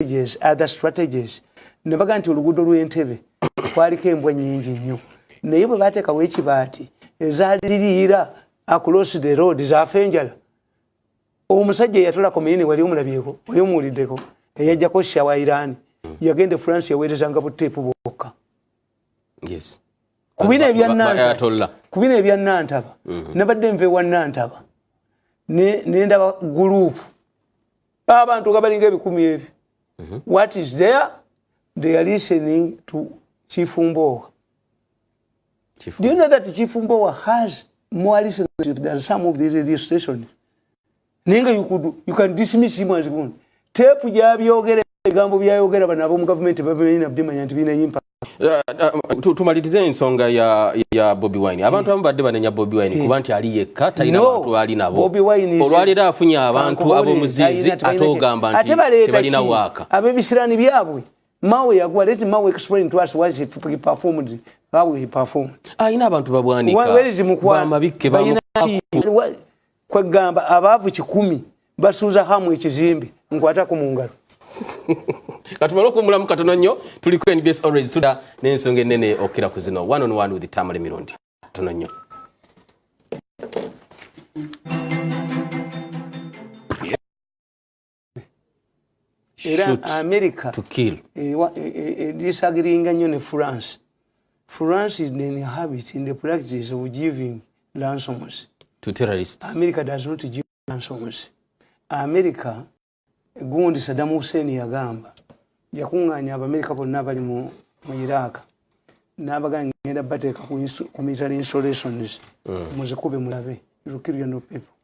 strategies other strategies ne bagamba nti oluguudo lw'entebe kwaliko embwa nnyingi nnyo naye bwe baateekawo ekibaati ezaali ziriira across the road zaafa enjala omusajja eyatula kominini wali omulabyeko wali omuwuliddeko eyajjako sha wa irani yagenda e france yaweerezanga buteepu bwokka kubino ebyanantaba mhm. nabadde nva ewa nantaba nendaba guluupu abantu nga balinga ebikumi ebyo mhm. what is there they are listening to chifumboowa do you know that chifumboowa has more listenership than some of these radio stations naye nga you can dismiss him as one tepu gyabyogera ebigambo byayogera bano ab'omu gavumenti babimanyi nabimanya nti birina impact tumalirize ensonga ya, ya bobi wine abantu abamu badde banenya bobi wine kuba nti ali yekka talina no, bantu ali nabo olwaleero afunye abantu abomuziizi ate ogamba nti tebalina waaka abebisirani byabwe mawe yagwa let mawe explain to us what he performed how he performed alina ah, abantu babwanika bamabikke kwegamba abaavu kikumi basuuza hamu ekizimbe nkwatako mu ngalo katumale okuwumulamu katono nnyo tuli ku nbs always tuda n'ensonga ennene okukira ku zino one on one with tamale mirundi katono nnyo era america edisagiringa e, e, e, nnyo ne france france is in habit in the practice of giving ransoms to terrorists america does not give ransoms america gundi saddam hussein yagamba yakuŋŋaanya abamerika bonna abali mu iraq n'abagaa ngenda bateeka ku military installations mm. muzikube mulabe you kill your no people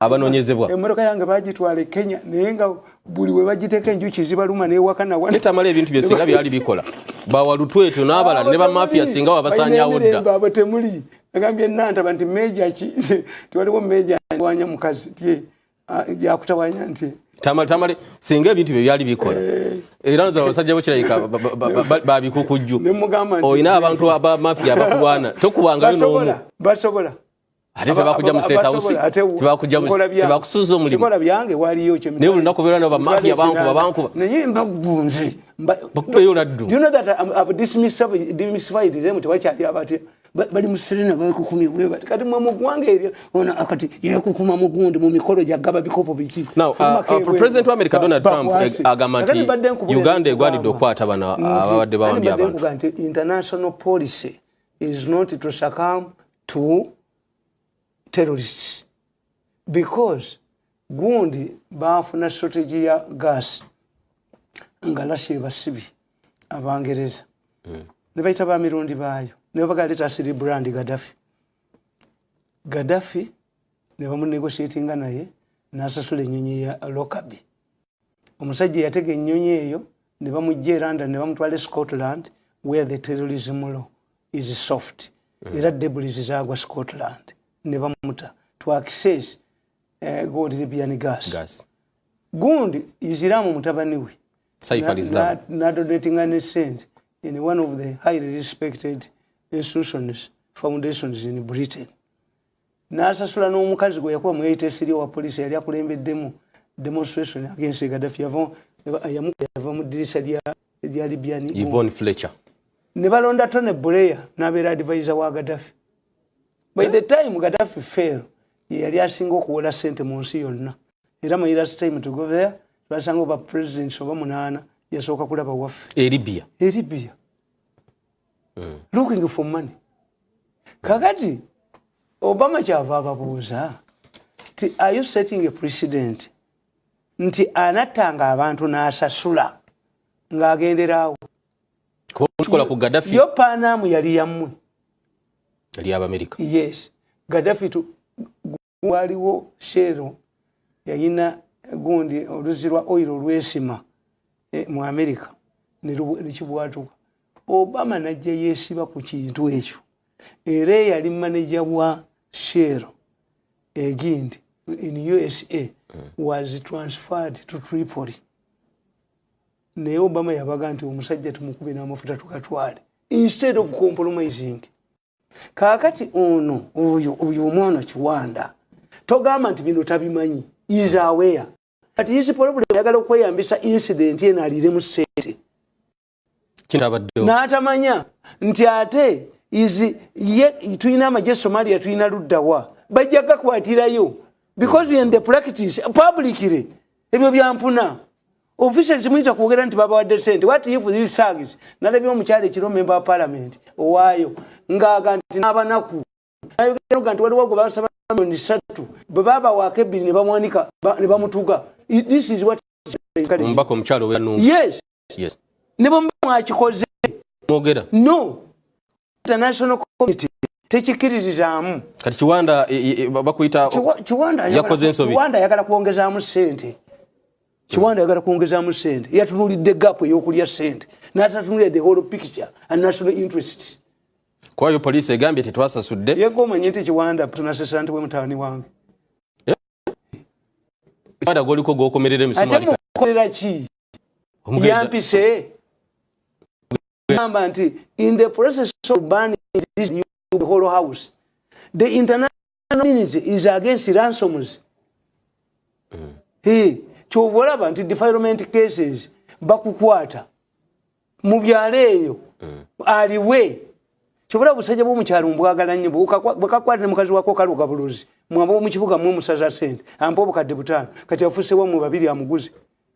abanonyezebwa emmotoka yange bagitwala e kenya naye nga buli we bagiteeka enjuki zibaluma newaka nawanetamala ebintu bye singa byali bikola bawalutweto n'abalala ne bamafia singa wabasanyawo ddaabo temuli agambye nantaba nti meja ki tiwaliwo meja wanya mukazi ti yakutawanya nti tamale tamale singa ebintu bye byali bikola eh. era nze abasajja bokirabika babikukujju olina abantu abamafia abakulwana tokubangayo nomu basobola ate tebakujja mu state house tebakujja mu tebakusuza omulimu sikola byange waliyo kyo naye olunaku obeera nabo bamafia bankuba bankuba naye mbagunze bakubeyo oladdu you know that um, I've dismissified dismissified them tewakyali abatya bali mu serena bakukumi bwebati kati mwe mu ggwanga eryo ono akati yekukuma mugundi mu mikolo gyagaba bikopo biki now uh, uh, president wa america donald trump eh, agamba nti uganda egwanidde okukwata bano ababadde bawambye abantu international policy is not to succumb to terrorists because gundi baafuna strategy ya gas nga lashe basibi abangereza mm. ne bayita ba mirundi baayo ne babagala leta asiri brand gadafi gadafi ne bamunegotiatinga naye n'asasula ennyonyi ya lokabi omusajja yatega ennyonyi eyo ne bamujja e london ne bamutwala e scotland where the terrorism law is soft mm. era debris zagwa scotland ne bamuta to access uh, eh, gold libyan gas, gas. gundi isiramu mutabani we nadonatinga ne sente in one of the highly respected institutions foundations in britain n'asasula n'omukazi gwe yakuba mweyita esiri owa poliisi yali akulembeddemu demonstration against gadafi yava mu ddirisa lya libyani ne balonda tone buleya n'abeera adivaiza wa gadafi by the time gadafi fail yeyali asinga okuwola sente mu nsi yonna era my last time to go there twasanga oba presidents oba munaana yasooka kulaba waffe eribia eribia mm. looking for money kakati obama kyava ababuuza ti are you setting a president nti anattanga abantu n'asasula ng'agenderaawo kikola ku gadafi yo panaamu yali yammwe yali abamerika yes gadafi waliwo sheero yayina gundi oluzzi lwa oil olwesima e, mu america nekibwatuka obama najja yesiba ku kintu ekyo era eyali maneja wa sheero egindi in usa hmm. was transferred to tripoli naye obama yabaga nti omusajja tumukube n'amafuta tukatwale instead of compromising kakati ono oyo oyo omwana kiwanda togamba nti bino tabimanyi is aware kati is problem ayagala okweyambisa incident eno aliremu sente n'atamanya nti ate is ye tulina amagye somalia tulina luddawa bajja gakwatirayo because in the practice publicly ebyo byampuna officials muyinza kwogera nti babawadde sente what if these thugs nalabye omukyalo ekiro member wa parliament owaayo ngaaga nti n'abanaku nayogeroga nti waliwo gwe basaba milioni ssatu bwe babawaako ebbiri ne bamwanika ne bamutuga this is what omubaka omukyalo yes yes ne bwe mwakikoze mwogera no international community tekikiririzaamu kati kiwanda e, e, e, bakuyita yakoze ensobi kiwanda ayagala kwongezaamu sente kiwanda ayagala kwongezaamu sente yatunulidde gapu eyokulya sente natatunulira the whole picture and national interest kwayo poliisi egambye tetwasasudde yego omanye nti kiwanda tunasesa nti we mutawani wange eh? kiwanda goliko gokomerera emisumaate mukolera ki yampise gamba nti in the process of burning this the whole house the international community is against ransoms mm. hey, kyova olaba nti defilement cases bakukwata mu byalo eyo mm. aliwe kyobola busajja bwomukyalo mbwagala nnyo bwekakwata ne mukazi wako kaloga buluzi mwaba omukibuga mwe musaza sente ampa obukadde butaano kati afusewa mwe babiri amuguze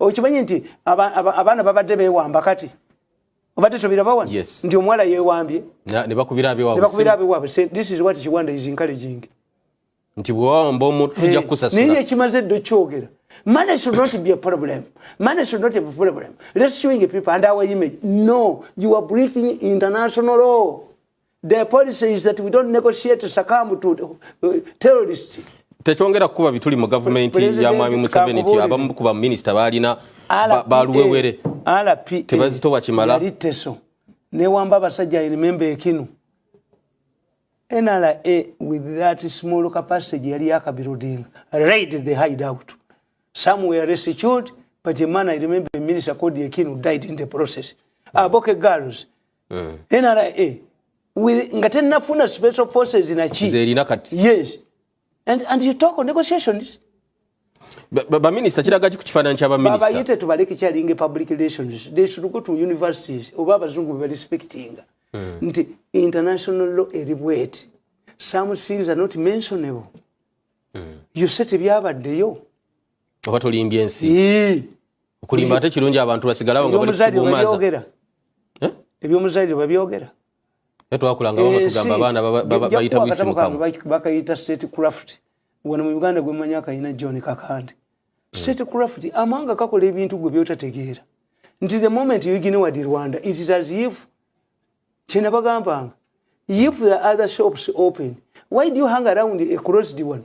okimanyi nti abaana babadde bewamba kati obadde tobirabawa nti omuwala yewambye nebakubira abewaabwe this is what kiwanda is encouraging nti bwewawamba omuntu tujja eh, kukusasula naye ekimaze edde okyogera Money should not be a problem. Money should not be a problem. Rescuing people and our image. No, you are breaking international law. Their policy is that we don't negotiate succumb to uh, terrorists. Tekyongera kukuba bituli mu gavumenti ya Mwami Museveni nti abamu ku baminisita baalina baluwewere tebazitowa kimala yalitteso newamba abasajja I remember ekinu NRA with that small capacity gye yali yakabirodinga raided the hideout some were rescued but a man I remember a minister called Ekinu died in the process aboke girls mm. nra nga tenafuna special forces naki zerina kati yes and, and you talk on negotiations baminista kiragaki ku kifaananyi kyabaministabayite tubale kikyalinga public relations they should go to universities oba abazungu bebarespectinga hmm. nti international law eri bweti some things are not mentionable hmm. you say tebyabaddeyo oba tolimbye ensi okulimba ate kirungi abantu basigalawo nga balikubumaza eh? ebyomuzalire babyogera twakulanga bamwe eh, tugamba abaana bayita buyisi mukamu bakayita state craft wano mu uganda gwemmanyi akayina john kakande hmm. state craft amawanga kakola ebintu gwe byotategeera nti the moment you ignore the rwanda it is as if kyena bagambanga if the other shops open why do you hang around a closed one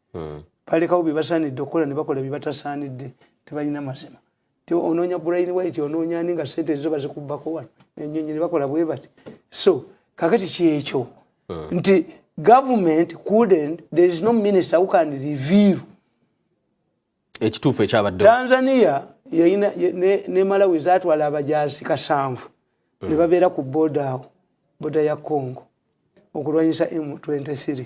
hmm. balekawo byebasaanidde okukola ne bakola byebatasaanidde tebalina mazima ti onoonya brain white onoonya ani nga sente ezo bazikubbako wano enyonyi ne bakola bwe bati so kakati kyekyo hmm. nti government couldn't there is no minister who can reveal ekituufu ekyabadde tanzania yayina ne malawi zatwala abajaasi kasanvu hmm. ne babeera ku boda awo boda ya congo okulwanyisa m23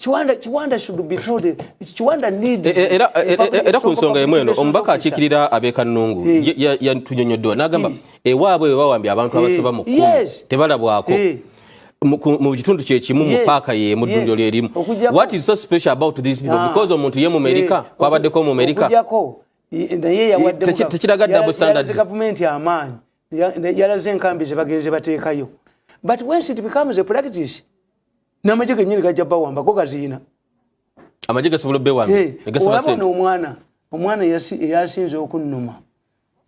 Kiwanda, Kiwanda should be told it. Kiwanda need e, e, era, e, era ku nsonga emu eno omubaka akiikirira abeeka Nnungu hey. yatunyonyoddwa n'agamba hey. ewaabwe bwe bawambye abantu hey. abasoba mu kkumi yes. tebalabwako hey. mu kitundu kyekimu mu paaka ye mu ddundiro lyerimu what is so special about these people ah. because omuntu ye mumerika eh, kwabaddeko mumerika tekiraga double standards gavumenti amaanyi yalaze enkambi zebagenze bateekayo but when it becomes a practice n'amagye genyini gajja bawamba go gaziyina amagye gasobola obewambaolabona omwana omwana eyasinze okunnuma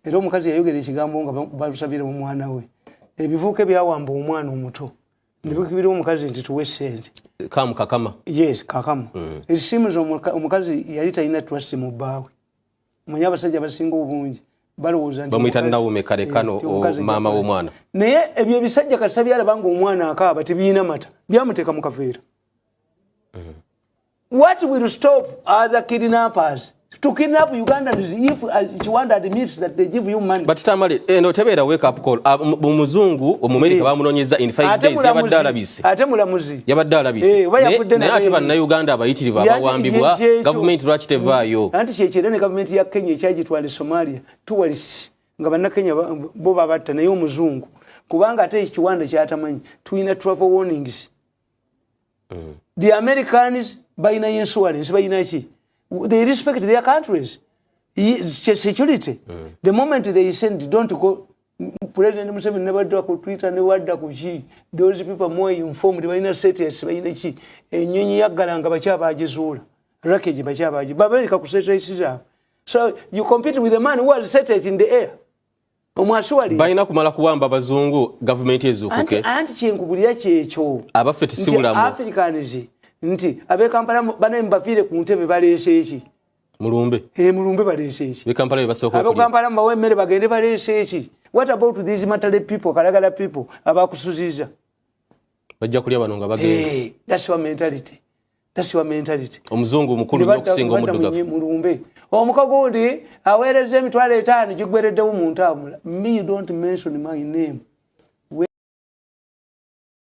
era omukazi yayogera ekigambo nga balusabira omwana we ebivuuka ebyawamba omwana omuto nebikibira omukazi nti tuwe sente kamu kakama yes kakama mm. esimu omukazi yali talina trust mu bbaawe manya abasajja basinga obungi balowoozabamuita nawume kale kano eh, maama womwana naye ebyo ebisajja kasa byalaba nga omwana akaaba tebiyina mata byamuteeka mukaveera mm. what will stop other kidnappers to kidnap ugandans if kiwanda uh, admits that they give you money but tamale eh, no tebeera wake up call ah, omuzungu omumerika eh. bamunonyeza in 5 days yabadde alabise ate mulamuzi yabadde alabise eh, naye ate bannayuganda abayitirivu abawambibwa gavumenti lwaki tevaayo mm. anti kyekyo era ne gavumenti ya kenya ekyagitwala e somalia tuwalis nga bannakenya bo babatta naye omuzungu kubanga ate ekiwanda kyatamanyi tulina travel warnings mm. the americans balina insurance balinaki they respect their countries security mm. the moment they send don't go president museveni nebadda ku twitter newadda ku ki those people more informed balina sets balina ki enyonyi yaggalanga bakyabagizuula rakage bakyabagi babereka ku sets zaabwe so you compete with a man who has set it in the air balina kumala kuwamba bazungu gavumenti ezukuke anti kyenkubulira kyekyo abaffe tisiulamu africans nti abekampala banaye mubafiire ku ntebe baleese eki mulumbe eh mulumbe balense eki bikampala bebasoko abo kampala mbawe emere bagende balense eki what about these matale people kalagala people abakusuziza bajja kulya bano nga bagenze eh that's your mentality that's your mentality omuzungu mukulu nyo kusinga omuduga mulumbe omukago ndi awereze emitwalo etaano gigwereddewo mu ntambula me you don't mention my name